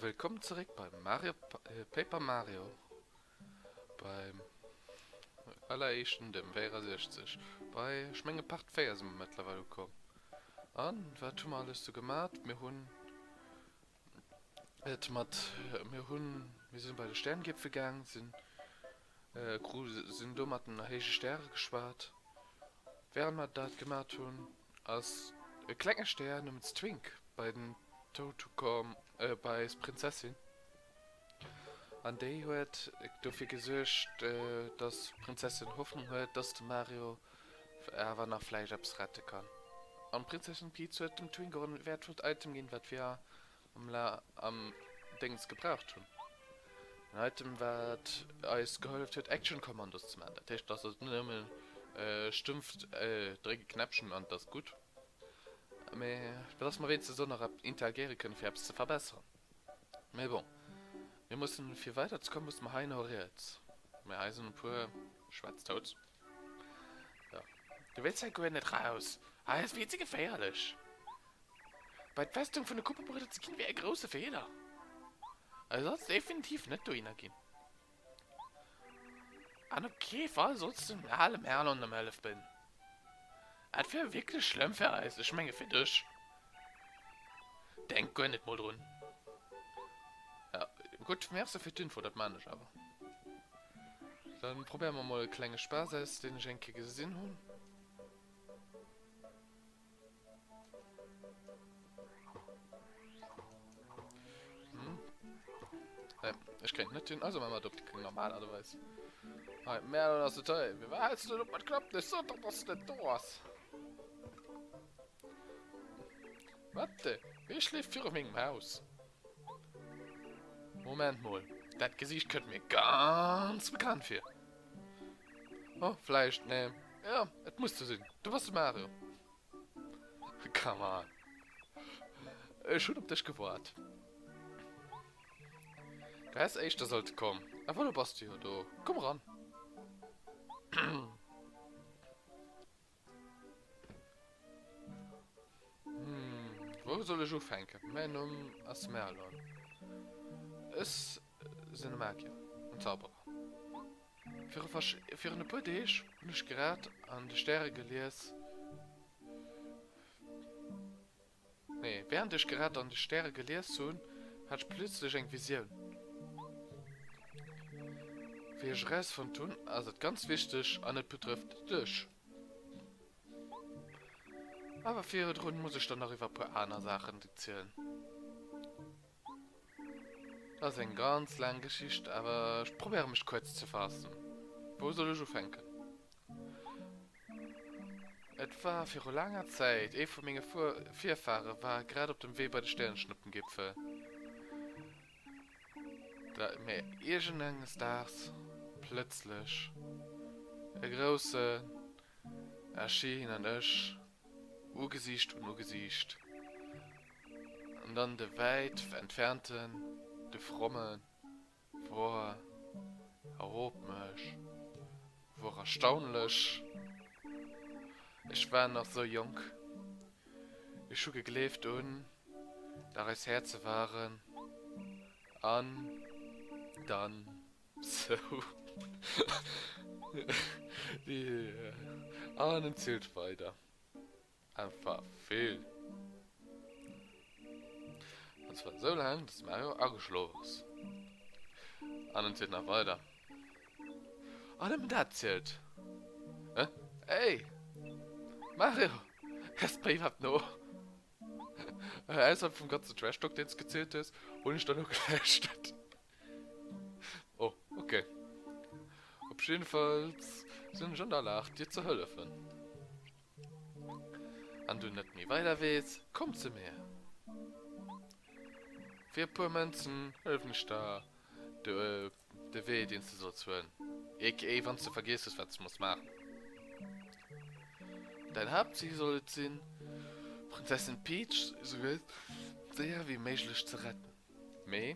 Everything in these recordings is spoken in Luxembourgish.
Wëllkomm zeréck bei Mario äh, Paper Mario. Beim alleréischten dem 64. Bei, ech menge Part 4 si mer mëttlerweil ukomm. An, wat hu mer alles sou gemat? Mir hunn Et mat mir hunn mir sinn bei de Sterngiepfel gaang sinn gru sinn do mat den héije Stäre geschwat. Während mer dat gemat hunn ass e klenge Stär nëmens Twink bei den Toutukom bei eis Prinzessin an déi huet dofir gesuergt dass Prinzessin Hoffnung huet dass de Mario Awer nach vläicht eppes rette kann. An d'Prinzessin Peach huet dem Twingo en wäertvollt Item ginn, wat wir am la am Déngs gebraucht hunn. En Item, wat eis geholleft huet, Action Commandos ze man. Dat heescht, dass et net nëmmen stëmpft, dréck e Knäppchen an et ass gutt, mee dass mer wéinstens och nach interagiere kënnen, fir eppes ze verbesseren. Mais bon, mir mussen, fir weider ze kommen, mussen mer hei no riets. Mais hei sen e puer Schwätztouts. Jo, du wéills hei guer net raus. Hei ass vill ze geféierlech. Bei d'Festung vun de Kupperbridder ze ginn, wär e grousse Feeler. Also sollts definitiv net dohinner ginn. An op kee Fall sollst du den ale Merlon ëm Hëllef bidden. Et wär wierklech schlëmm fir eis, ech menge fir dech. Denk guer net mol drun. Ja, gutt, Merci fir d'Info, dat man ech awer. Da probéiere mer mol e klenge Spaass aus, deen ech eng Kéier gesinn hunn. Ech kennt net hunn also man mat op de normal aderweis. Hei Mä ass et hei. Wie war du op mat klappt Ech sot op ass net do ass. Wat de? Wee schleef viru mengem Haus? Moment mol, dat Gesiicht kënnt mir ganz bekannt vir. Oh, vläicht, nee. Ja, et muss ze sinn. Du bass de Mario. Come on. Ech hunn op dech gewart. Du häss éischter sollte kommen. A voilà, bass du jo do. Komm ran. Wou soll ech ufänken? Mäin Numm ass Merlon. Ech sinn e Magier an Zauberer. Virun e puer Deeg hunn ech grad an de Stäre gelies, Nee, während ech gerad an de Stäre gelies hunn, hat ech plötzlech eng Visioun. Wéi ech erausfonnt hunn, ass et ganz wichteg an et betrëfft dech. Awer virdrun muss ech der nach iwwer e puer aner Saachen erzielen. Dat ass eng ganz laang Geschicht, awer ech probéiere mech kuerz ze faassen. Wou soll ech ufänken? Et war viru laanger Zäit, ee vu menge Fuer Virfahre war grad op dem Wee bei de Stärenschnuppengipfel. Da mä iergend enges Daags plëtzlech e grousse Erschii hin an ech Ugesiicht un Ugesiicht an dann de wäit entfernten, de fromme Woar erop mech, woar erstaunlech, ech war nach sou jonk, ech hu gegleeft un dat eis Häerze waren an dann sou an en zilt weider. Einfach vill. An zwar so lang, dass Mario ageschlof ass. An en zielt nach weider. An nëmmen dat zielt. Hä? Ey! Mario! Kess bei iwwerhaapt no? Ausserhalb vum ganzen Trash-Talk, deen s du gezielt hues, hunn ech da lo gelauschtert. Oh, ok. Op jiddefalls sinn ech an der Lag, dir ze hëllefen. Wann du net méi weider weess, komm zu mir. Fir e puer Mënzen hëllefen ech der, de Wee, deen s de solls huelen, aka wann s de vergiess hues, wat s de muss maachen. Däin Haaptzil soll et sinn, d'Prinzessin Peach esou séier wéi méiglech ze retten. Mee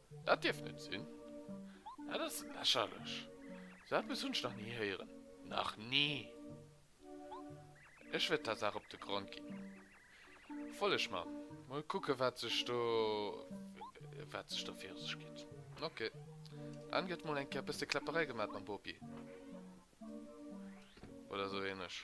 Dat dierf net sinn. Dat ass lächerlech. Sou eppes hunn ech nach ni héieren. Nach ni! Ech wäert der Saach op de Grond ginn. Follegt mer. Mol kucken, wat sech do, wat sech do viru sech geet. Ok. Dann gëtt mol eng Kéier e bësse Kläpperei gemat mam Bopi. Oder sou ähnlech.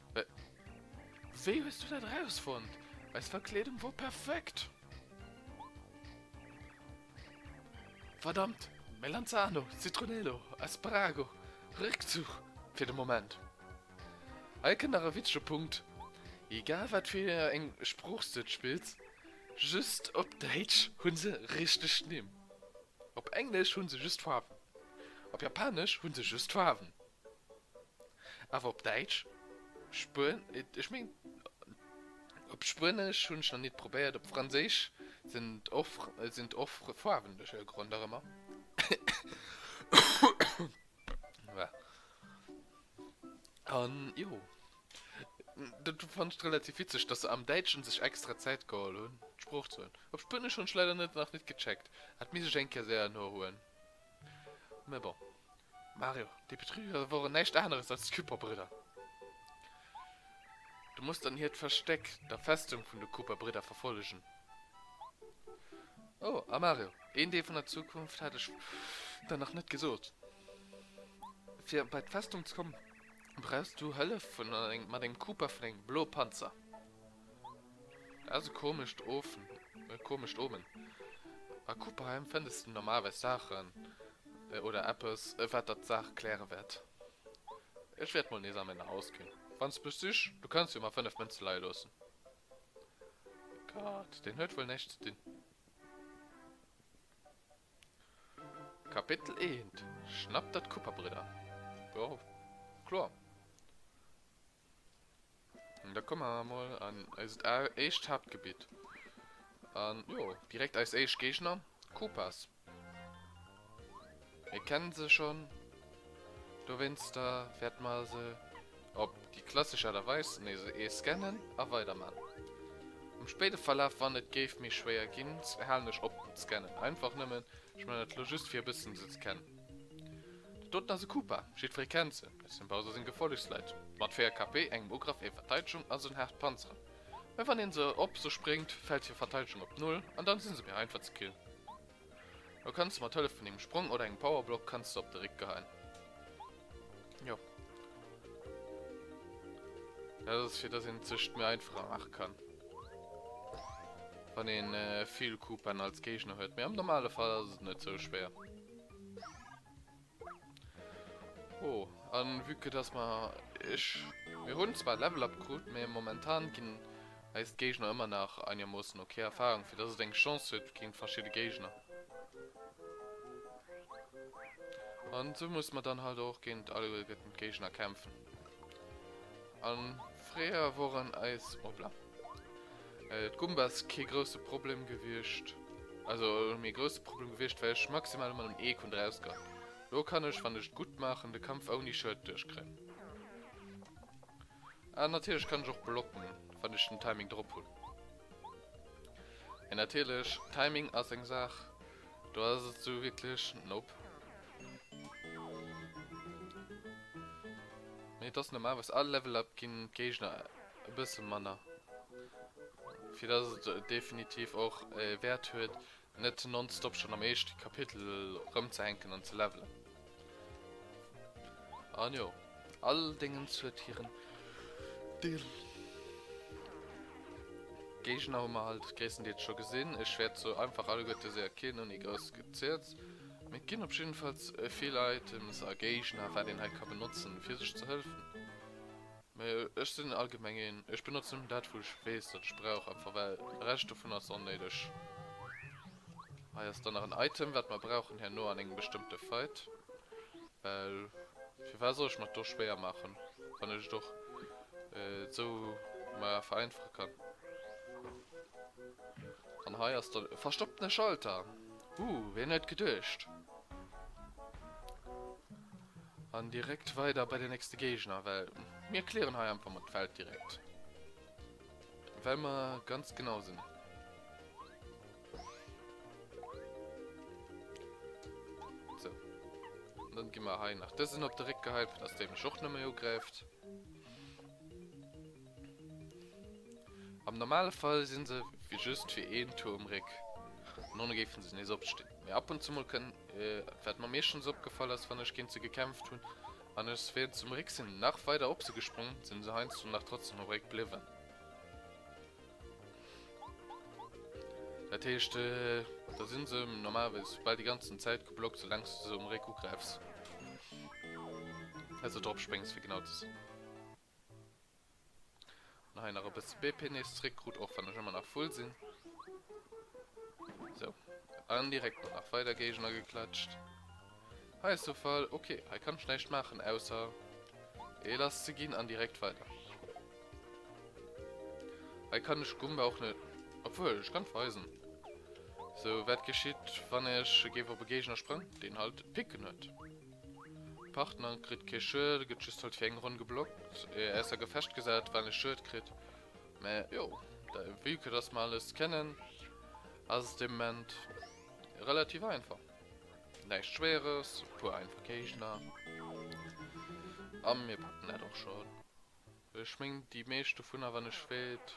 Wéi hues du dat erausfonnt? Eis Verkleedung wor perfekt! Verdammt! Melanzano, Citronelo, Asparago, Réckzuch fir de Moment. Hei kënnt nach e witzege Punkt, Egal wat fir eng Sprooch s du et spills, just op Däitsch hu se richteg Nimm. Op Englesch hu se just Faarwen. Op Japanesch hu se just Faarwen. Awer op Däitsch? Spuenesch? Ech meng, op Spuenesch hunn ech nach nit probéiert. Op Franséisch sinn et och Faarwen duerch e Grond nach ëmmer. An jo, dat fannen ech relativ witzeg, dass se am Däitschen sech extra Zäit geholl hunn, d'Sprooch ze huelen. Op Spuenesch hunn ech leider nach nit gecheckt. Hätt misse ech eng Kéier séier nohuelen. Mä bon. Mario, déi Betrüger woren näischt aaneres als d'Küperbridder. Du muss dann hiert Verstéck der Festung vun de Kuperbridder verfollegen. Oh, a Mario, een Deel vun der Zukunft hat ech der nach net gesoot. Fir bei d'Festung ze kommen, brauchs du Hëllef vun mat engem Kuper vun engem Blo-Panzer. Ass e komescht Ofen, e komescht Omen. A Kupperheim fënns de normalerweis Saachen oder eppes, wat der d'Saach kläre wäert. Ech wäert mol nees a mäin Haus ginn. Wann s de mech sichs, du kanns jo mar 5 Mënze leie loossen. Gott, deen huet wuel näischt ze dinn. Kapitel 1 Schnappt der d'Kupperbridder! Jo, kloer. An da komme mer mol an eist éischt Haaptgebitt. An jo, direkt eis éischt Géigner, Koopas. Mir kennen se schon. Dowéinster wäerte mer se op déi klassesch Aart a Weis nees ee scannen a weiderman. Am spéide Verlaf, wann et géif méi schwéier ginn, halen ech op mat scannen. Einfach nëmmen, ech man dat lo just fir e bëssen se ze kennen. De doten ass e Koopa, jiddwer ee kennt se, et sinn Bowser seng Gefollechsleit, mat 4 KP, engem Ugraff, enger Verteidegung a sou en haart Panzer, mä wann een se op se spréngt fällt hier Verteidegung op Null an dann sinn se méi einfach ze killen. Lo kanns de mat Hëllef vun engem Sprong oder engem Powerblock kanns de se op de Réck geheien. Jo. Dat ass fir dass een sech méi einfacher maache kann, wann een vill Koopaen als Géigner huet, mä am normale Fall ass et net sou schwéier. Oh, an vue que dass mer, ech, mir hunn zwar Level Up krut, mee momentan ginn eis d'Géigner ëmmer nach einigermoossen okay Erfahrung, fir dass et eng Chance huet géint verschidde Géigner. An esou musse mer dann halt och géint alleguerten d'Géigner kämpfen. An fréier woren eis Obla. Äh d'Gumbas kee grousse Problem gewiescht. Also mee grousse Problem gewiescht well ech maximal emmer dem Eek hun draus gehatt. Lo kann ech wann ech et gutt maachen de Kampf ouni Schued duerch kréien. An natierlech kann ech och blocken wann ech den Timing drop hun. Mee natierlech Timing ass eng Saach. Do ass et sou wierklech nope. Mee et ass normalerweis all Level Up ginn d'Géigner e bësse manner, fir dass et definitiv och e Wäert huet net nonstop schonn am éischte Kapitel erëmzehänken an ze levelen. An jo, all Dingens huet hiren Deel. Géigner hu mer halt gréisstendeels scho gesinn. Ech wäert se einfach alleguerte séier killen, ouni grouss Gezierz. Mee et ginn op jiddefalls vill Items a Géigner, wat een hei ka benotzen, fir sech ze hëlfen. Mä ech sinn allgemeng een, ech benotze nëmmen dat, wou ech weess, datt ech brauch, einfach well de Rescht dovun ass onnéideg. Hei ass dann nach en Item, wat mer brauchen herno an engem bestëmmte Fight, well firwat soll ech mer et do schwéier maachen, wann ech et och esou mer vereinfache kann. An hei ass dann e verstopptene Schalter. Huh, wien huet geduecht? An direkt weider bei den nächste Géigner, well mir clearen hei einfach mol d'Welt direkt. Well mer ganz genau sinn. So. Und dann gi mer hei nach dësen op de Réck gehäit, fir dass dee mech och nëmme ugräift. Am normale Fall sinn se wéi just fir een Tour um Réck, an ohne géifen se nees opstinn. Mee ab und zu mol kënn, wat mer meeschtens opgefall ass, wann ech géint se gekämpft hunn an ech wéilt zum Réck sinn, nach weider op se gesprongen, sinn se heiansdo nach trotzdem um Réck bliwwen. Dat heescht, da sinn se normalerweis bal déi ganzen Zäit geblockt, soulaangs du se um Réck ugräifs, also dropspréngs fir genau ze sinn. An hei nach e bësse BP nees zréckkrut, och wann ech ëmmer nach full sinn. Sou. An direkt mol nach weider Géigner geklatscht. Hei ass de Fall. Ok, hei kann ech näischt maachen, ausser ee lass ze ginn an direkt weider. Hei kann ech Gumba och net... Obwuel, ech kann d'Weisen. Sou, wat geschitt, wann ech géif op e Géigner sprëngen, deen halt d'Picken huet? Partner kritt kee Schued, gëtt just halt fir eng Ronn geblockt, ier ausser Gefecht gesat, wann e Schued kritt. Mä jo, vue que dass mer alles kennen, ass et de Moment relativ einfach. Näischt Schwéieres, e puer einfach Géigner a mir packen dat och schonn. Ech mengen déi meescht dovunner, wann ech wéilt,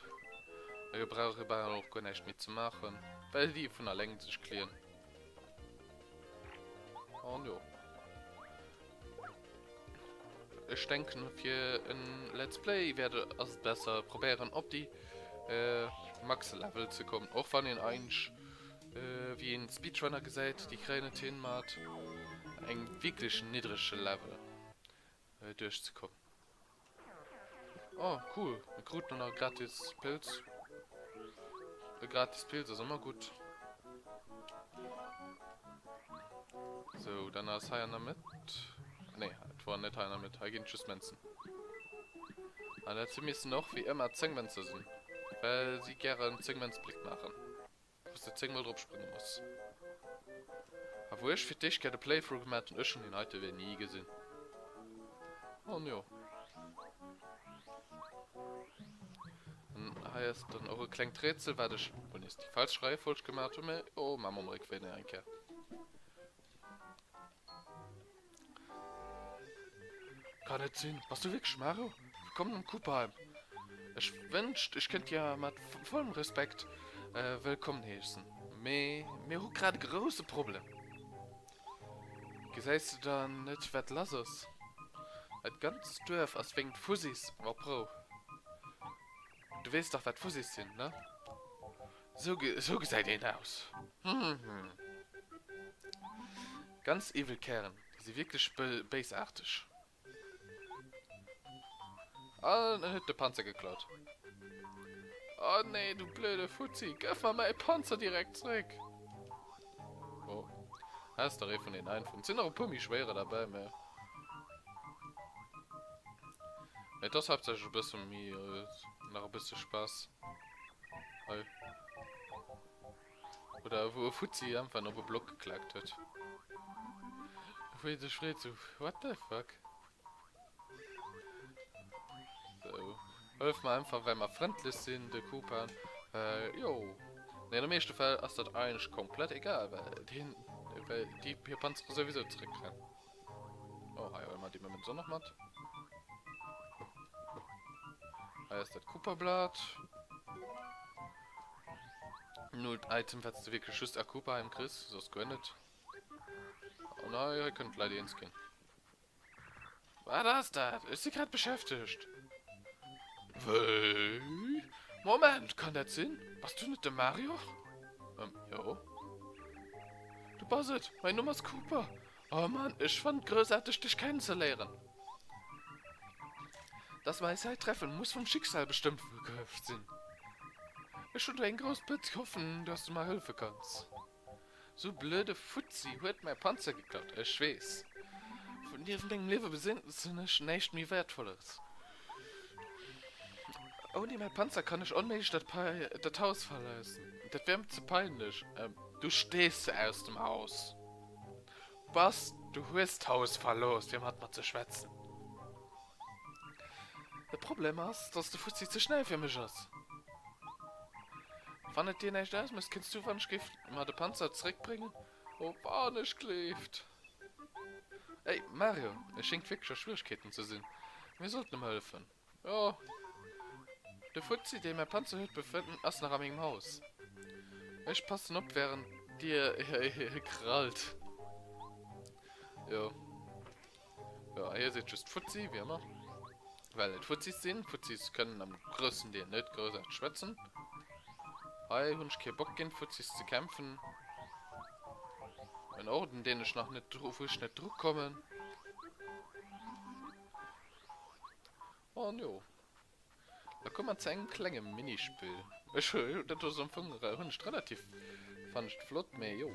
da gebrauch ee bal och guer näischt méi ze maachen, well déi vun alleng sech clean. An jo. Ech denken fir en Let's Play wäert ass et besser probéieren op déi Max Level ze kommen, och wann een eigentlech wéi een Speedrunner gesäit, déi kréien et hin mat engem wierklech niddrege Level. äh, duerchzekommen. Oh, cool. Mir kruten och nach e gratis Pilz. E gratis Pilz ass ëmmer gutt. So, dann ass hei an der Mëtt. Nee, et war net hei an der Mëtt. Hei ginn just Mënzen. An dat si missen och, wéi ëmmer, 10 Mënze sinn. Well si gären 10 Mënz Blick maachen. Dass de 10 mol drop sprënge muss. A wou ech fir d'éischt gär de Playthrough gemat hun, ech hun deen heite Wee ni gesin. An jo. An hei ass dann och e klengt Rätsel, wat ech, mol nees déi falsch Reiefolg gemat hun, mä jo, maa mer um Réckwee nach eng Kéier. Kann net sinn. Bass du wierklech Maro? Wëllkomm am Cubheim. Ech wënscht, ech kënnt dir mat vollem Respekt wëllkomm heessen, mee mir hu grad e grouse Problem. Gesäis du dann net, wat lass ass? Dat ganzt Duerf ass wéinst Fuzis op Rou. Du wees dach wat Fuzis sinn, ne? Sou sou gesäit een aus. Ganz evil Kären, déi si wierklech béisaarteg. An en huet de Panzer geklaut. Oh nee, du blöde Fuzzi, gëff mer mäi Panzer direkt zréck! Oh. Has der ee vun den einfachen. Sinn nach e puer méi schwéiere derbäi, mä. Mä et ass haaptsächlech e bësse méi. Nach e bësse Spaass. Hei. Oder wou e Fuzzi einfach op e Block geklaakt huet. Wéi e sech freet sou, What the fuck? Hëllef mer einfach well mer frëndlech sinn, de Kupan. Jo. Mee an de meeschte Fäll ass dat eigentlech komplett egal, well deen, well déi hir Panzere souwisou zeréckrennen. Oh, hei huele mer déi Mementon nach mat. Hei ass dat Kupa-Blat. Nullt Item, wat s de wierklech just a Kupaheim kriss, soss guer net. An hei kënnen d'Leit eens ginn. Wat ass dat? Ech si grad beschäftegt. Wéi? Moment, kann dat sinn? Bass du net de Mario? Ähm, jo. Du bass et! Mäin Numm ass Kooper! Oh Mann, ech fannen et groussarteg, dech kennenzeléieren! Dass mer eis hei treffen, muss vum Schicksal bestëmmt sinn. Ech hunn do eng grouss Pëtz, hoffen, dass du mer hëllefe kanns. Sou blöde Fuzzi huet mäi Panzer geklaut, ech weess. Vu nieft mengem Liewe besinnt sinn ech näischt méi Wäertvolleres. Ouni mäi Panzer kann ech onméiglech dat Haus verloossen, dat wär mer ze peinlech. Du stees aus dem Haus. Bass, du hues d'Haus verlooss, fir mat mer ze schwätzen. De Problem ass, dass de Fuzzi ze schnell fir mech ass. Wann et dir näischt ausmécht, kënns du, wann ech géif, mer de Panzer zeréckbréngen? O wann ech gleeft! Hey, Mario, et schéngt wierklech a Schwieregkeeten ze sinn. Mir sollt em hëllefen. Oh. De Fuzzi, dee mäi Panzer huet, befënnt ass nach a mengem Haus. Ech passen op, während dir hie krallt. Jo. Jo, hie seet just Fuzzi, wéi ëmmer. Well et Fuzzis sinn. Fuzzis kënnen am groussen Deel net groussarteg schwätzen. Hei hunn ech kee Bock, géint Fuzzis ze kämpfen. En Orden, deen ech nach net dru wou ech net drukommen. An jo, da komme mer zu engem klenge Minispill. Ech hu dat do am Fong hunn ech relativ, fannen ech flott, mee jo.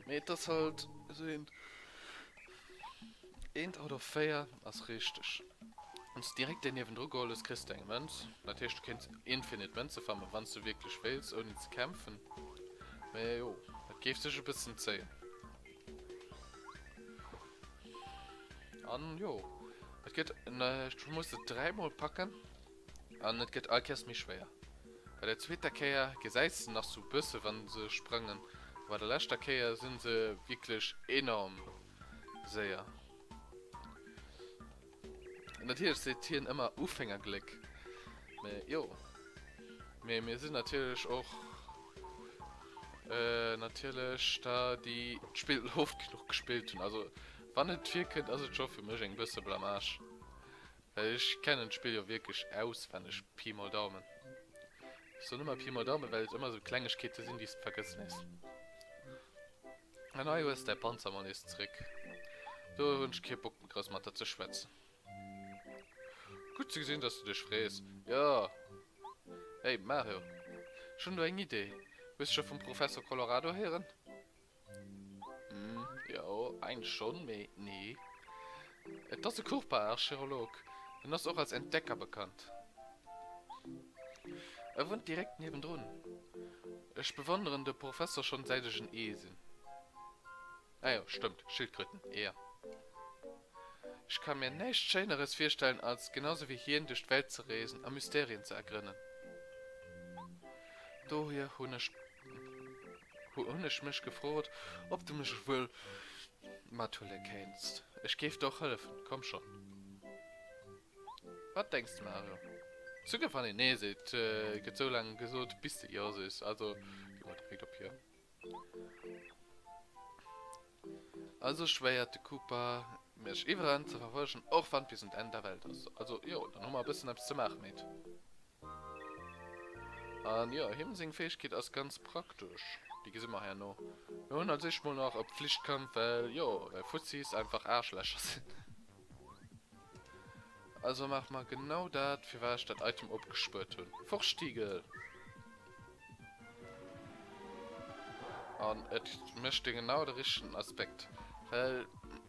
Mee et ass halt esou eent, eent out of véier ass richteg. Wann s de direkt deen niewendru geholl hues, kriss de eng Mënz. Dat heescht, du kéints infinite Mënze farmen, wann s de wierklech wéilts, ouni ze kämpfen. Mee jo, et géif sech e bëssen zéien. An jo, et gëtt ech muss et dräimol packen an et gëtt all Käers méi schwéier. Bei der zweeter Kéier gesäis de nach sou e bësse wann se sprangen, a bei der leschter Kéier sinn se wierklech enorm séier. Natierlech seet hien ëmmer Ufängergléck, mä jo. Mee mir sinn natierlech och natierlech der, déi d'Spill oft genuch gespillt hunn. Also wann et virkënnt, ass et scho fir mech eng bësse Blamage, well ech kennen d'Spill jo wierklech auswenneg, Pi mal Daumen. Ech soen ëmmer Pi mal Daumen, well et ëmmer esou Klengegkeete sinn, déi s de vergëssen nees. An hei hues däi Panzer mol nees zréck. Do hun ech kee Bock méi grouss mat der ze schwätzen. Gutt ze gesinn, dass du dech frees. Jo. Hey, Mario, ech hun do eng Idee. Hues scho vum Professor Colorado héieren? Hm, jo, eigentlech schon, mee nee. Et ass e Kurpar Archeolog, en ass och als Entdecker bekannt. E wunnt direkt niewendrun. Ech bewonneren de Professor schon säit ech en Ee sinn. Ah jo, stëmmt, Schildkröten, Eeër. Ech ka mir näischt Schéineres virstellen als genau sou wéi hien duerch d'Welt ze reesen a Mysterien ze ergrënnen. Dohier hunn ech. Hunn ech mech gefrot, ob de mech wuel mathuele kéinst. Ech géif der och hëllefen. Komm schonn. Wat denks de, Mario? Suguer wann een Nee seet, gëtt esou laang gesot, bis de Jo sees. Also gi mol direkt op Jo. Also schwéiert de Cooper mech iwweren ze verfolgen, och wann et bis un d'Enn der Welt ass. Also jo, dann hu mer e bëssen eppes ze maachen, Meet. An jo, him seng Fäegkeet ass ganz praktesch, déi gesi mer herno. Mir hunn als éischt mol nach e Pflichtkampf, well jo, well Fuzzi's einfach Aarschlächer sinn. Also maach mer genau dat, firwat ech dat Item opgespuert hunn. Vorstiegel! An et mécht e genau de richtegen Aspekt, well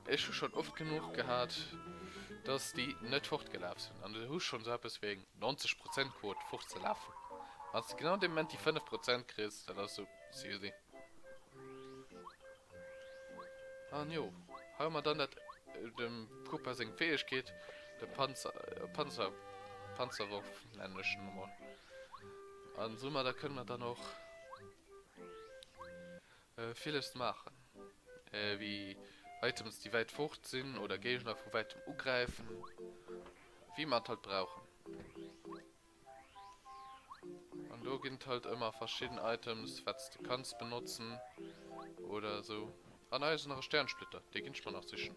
ech hu schonn oft genuch gehat, dass déi net fortgelaf sinn. An du hu schonn esou eppes wéi eng 90 Prozent Quot, fortzelafen. Wann s de genau dee Moment déi 5 Prozent kriss, dat ass esou, Sisi. An jo, hei hu mer dann dat dem Cooper seng Fäegkeet, de Panzer, Panzer, Panzerworf nennen ech en emol. An soumadder kënne mer dann och villes maachen, wéi Items déi wäit fort sinn oder Géigner vu wäitem ugräifen, wéi mer et halt brauchen. An do ginn et halt ëmmer verschidden Items, wat s de kanns benotzen oder esou. Ah nei ass nach e Sternsplitter, dee ginn ech mer nach sichen.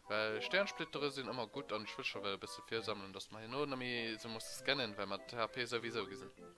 Well Sternsplittere sinn ëmmer gutt an ech wëll scho well e bësse virsammelen, dass mer herno net méi esou musse scannen, well mer d'HP souwisou gi sinn.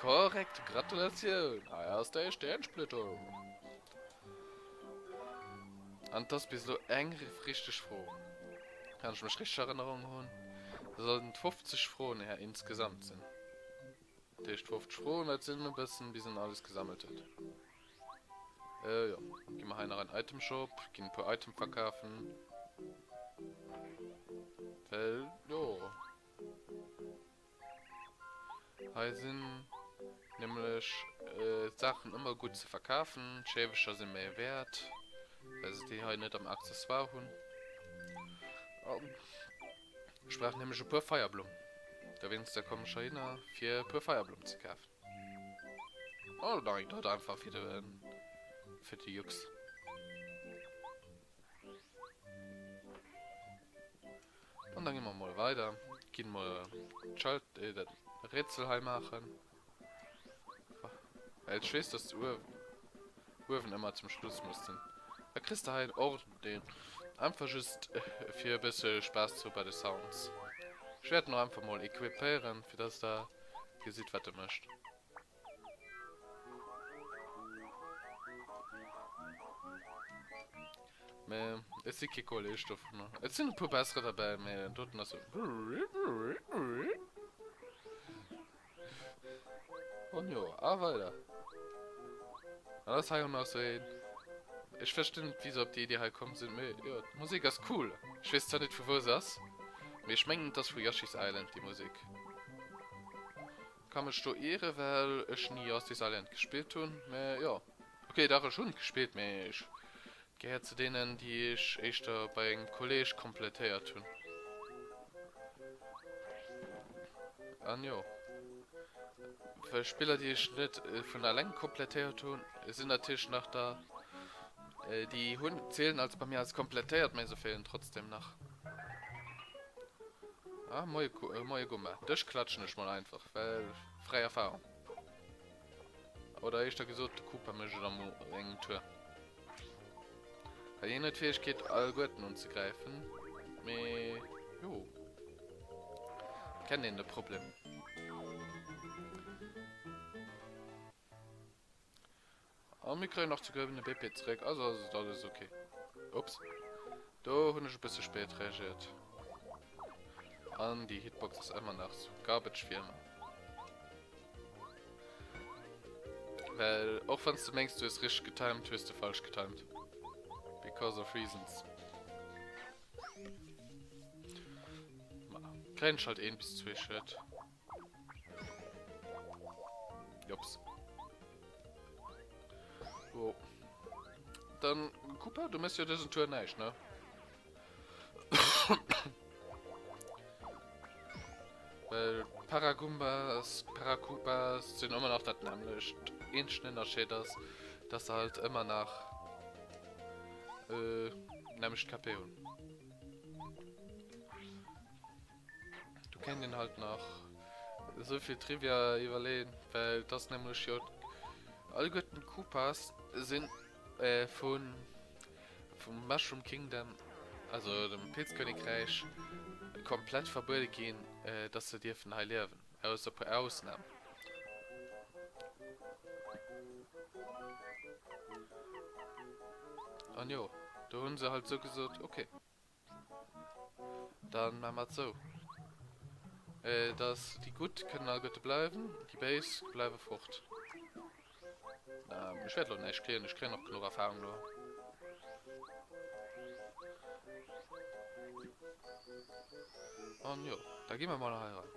Korrekt, Gratulatioun! Hei ass däi Stäernsplëtterung. An et ass bis elo eng richteg Fro. Wann ech mech richteg Erënnerung hunn, da sollten et 50 Froen hei insgesamt sinn. Dat heescht 50 Froen, wat sinn e bëssen, bis en alles gesammelt huet. Jo, gi mer hei nach en Itemshop, ginn e puer Item verkafen. Well, jo. Hei sinn nämlech d'Saachen ëmmer gutt ze verkafen. D'Schäfecher si méi wäert, well se déi hei net am Accessoire hunn. Ech brauch nämlech e puer Feierblumm. Dowéinster komm ech heihinner, fir e puer Feierblumm ze kafen. Oder dann eng drëtt einfach fir de Jux. An dann gehen wir mal weiter. Gehen wir Schalt, äh, das Rätsel hier machen. Weil ich weiß, dass du Uefen immer zum Schluss musst sein. Da kriegst du hier einen Ort, den einfach just äh, für ein bisschen Spaß zu bei den Sounds. Ich werde noch einfach mal equipieren, für dass da gesieht, was du möchtest. Mee et si kee Kolleg dovunner. Et sinn e puer bessere derbäi, mee den doten ass esou. An jo, a weider. An da ass hei och nach esou een. Ech verstinn net, wéi se op déi Idee hei komm sinn, mee jo, d'Musek ass cool. Ech weess zwar net, vu wou se ass, mee ech mengen, et ass vu Yoshi's Island, déi Musek. Kann mech do ieren well ech ni Yoshi's Island gespillt hun, mä jo ok dach ech hun et gespillt mä ech gehéiert ze deenen déi ech éischter bei engem Kolleg komplettéiert hun an jo well Spiller déi ech net vun alleng komplettéiert hun sin natierlech nach da Déi hunn zielen als bei mir als komplettéiert, mä se feelen trotzdem nach. Ah, moie, moie Gumma. Dech klatschen ech mal einfach, well fräi Erfahrung. Oder eischter gesot, de Cooper mécht et am engem Tour. Hien huet d'Fäegkeet, all Guerten unzegräifen, mä jo. Kennt een de Problem. An mir kréien nach ze gëllen de BP zréck, also ass et alles ok. Ups, do hunn ech e bësse spéit reagiert. An déi Hitbox ass ëmmer nach zu garbage wéi ëmmer. Well och wann s de mengs du hues richteg getimed, hues de falsch getimed. Because of reasons. Ma, kréien ech halt een bis zwee Schued. Jops. Oh. Dann, Cooper, du misst ja diesen Tour nicht, ne? Weil Paragumbas, Paracupas sind immer noch das nämlich. Ein Unterschied ist, dass sie halt immer noch äh, nämlich Kapieren. Do kéint een halt nach esou vill Trivia iwwerleeën, well et ass nämlech jo alleguerten d'Koopas sinn vun vum Mushroom Kingdom, also dem Pilzkönigräich, komplett verbuede ginn, dass se dierfen hei liewen, ausser e puer Ausnamen. An jo, do hunn se halt esou gesot, ok. Dann maan mer et sou dass déi Gudd kënnen all Gudde bleiwen, déi Béis bleiwe fort. Ech wärt elo näischt kléen, ech kréien och genuch Erfahrung elo. An jo, da gi mer mol heiran.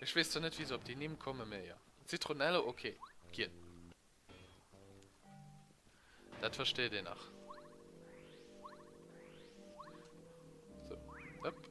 Ech wees zwar net wéi se op déi Nimm kommen mä jo. Zitronello ok, gien. Dat versteet een nach. Sou, hop.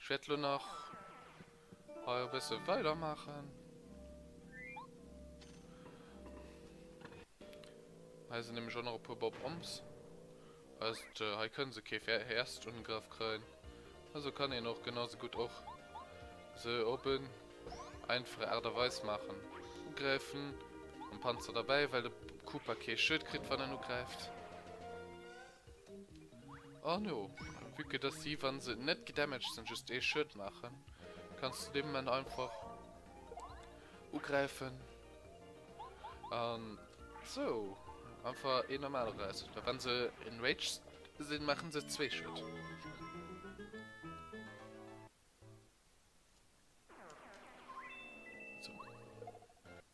Ech wäert elo nach hei e bësse weider maachen. Hei sinn nämlech och nach e puer Bob-ombs. Heisst, hei kënne se kee First-Ungraff kréien. Also kann een och genausou gutt och se op en einfache Aart a Weis maachen. Ugräifen, en Panzer derbäi, well de Koopa kee Schued kritt, wann en ugräift. Oh no, vue que dass si, wann se net gedamaged sinn, just ee Schued maachen, kanns du dee Moment einfach ugräifen an sou einfach ee normale Räiss. Mä wann se enraged sinn, maachen se zwee Schued. Sou.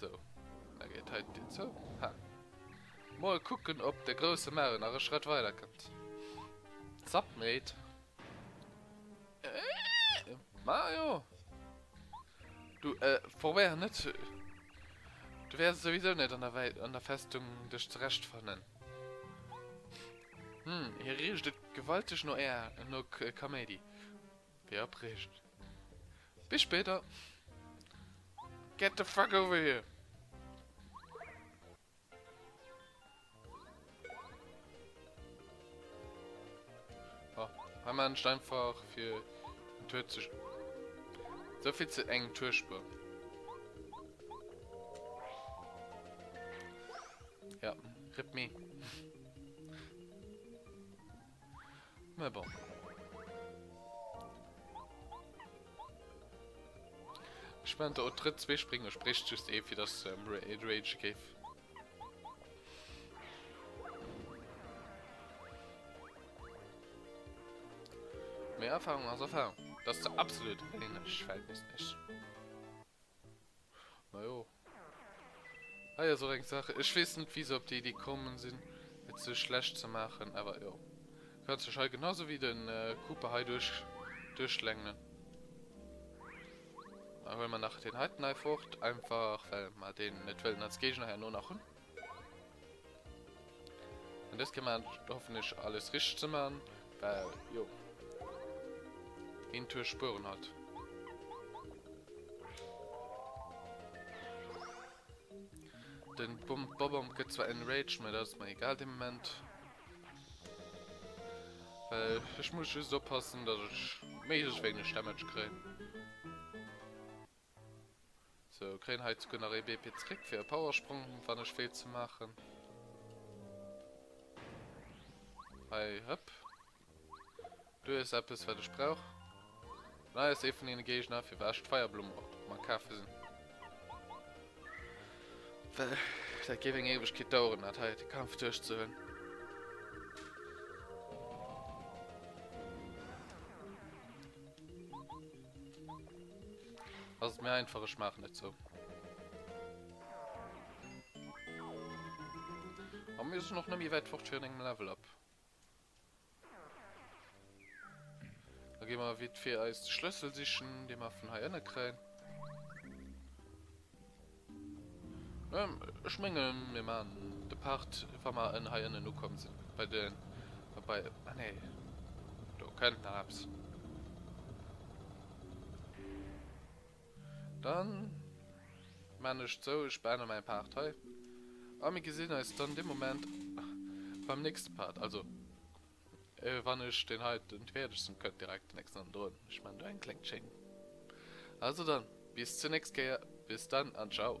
So, da geet hei d'Dier zou. Ha. Mol kucken, ob de grousse Mario nach e Schrëtt weider kënnt. Submit. Äh, Mario! Du, äh, probéier net. Du wärs souwisou net an der Wei an der Festung dech zerechtfannen. Hm, hie riicht et gewalteg no Är no Kaméidi. Wéi abreecht. Bis spéider. Get the fuck over here! Oh, hei man ich einfach für den Tour zu... So viel zu eng Tourspur. Ja, rip me. Mä bon. Ech mein der Otrëtt zwee springen, ech brécht just ee fir dass ähm, et Rage géif. Mehr Erfahrung als Erfahrung. Das ist absolut ähnlich, fällt mir nicht. Na jo, Hei ass och eng Sache, ech wees net wéi se op déi Idee kommen sin et sou schlecht ze maachen, awer jo kanns dech hei genau sou wéi den Cooper hei duerchschlängelen. Huelen mer nach deen heiten hei fort, einfach well mer deen net wëllen als Géigner herno nach hun. Und das kann man hoffentlich alles richtig zu machen, weil, jo, ein Tour Spuren hat. Den Bump Bobom gibt zwar einen Rage, aber das ist mir egal im Moment. Weil ich muss just oppassen, dass ich möglichst wenig Damage kriege. So kréien hei zucken nach ee BP zréck fir e Powersprong wann ech wéilt ze maachen. Hei hëpp. Do ass eppes wat ech brauch. An hei ass ee vun deene Géigner firwat ech d'Feierblumm op mam kafe sinn. Well dat géif eng Éiwegkeet daueren dat hei de Kampf duerch ze hunn. Ass et méi einfach, ech maachen et sou. A mir sinn och net méi wäit fort virun engem Level-Up. Da gi mer vite fait eis de Schlëssel sichen, dee mer vun hei ënne kréien. Ech mengen mir maan de Part wa mer en hei ënnen ukomm sin bei den bei ah nee do kënnt nach eppes dann maan ech et sou ech beenden mein Part hei a mir gesin eis dann dee Moment beim nächste Part also. Wann ech deen heiten d'wierdegsten kënnt direkt den nächsten hannendrun, ech man do eng kleng Chaîne. Also dann bis zur nächst Kéier, bis dann an ciao.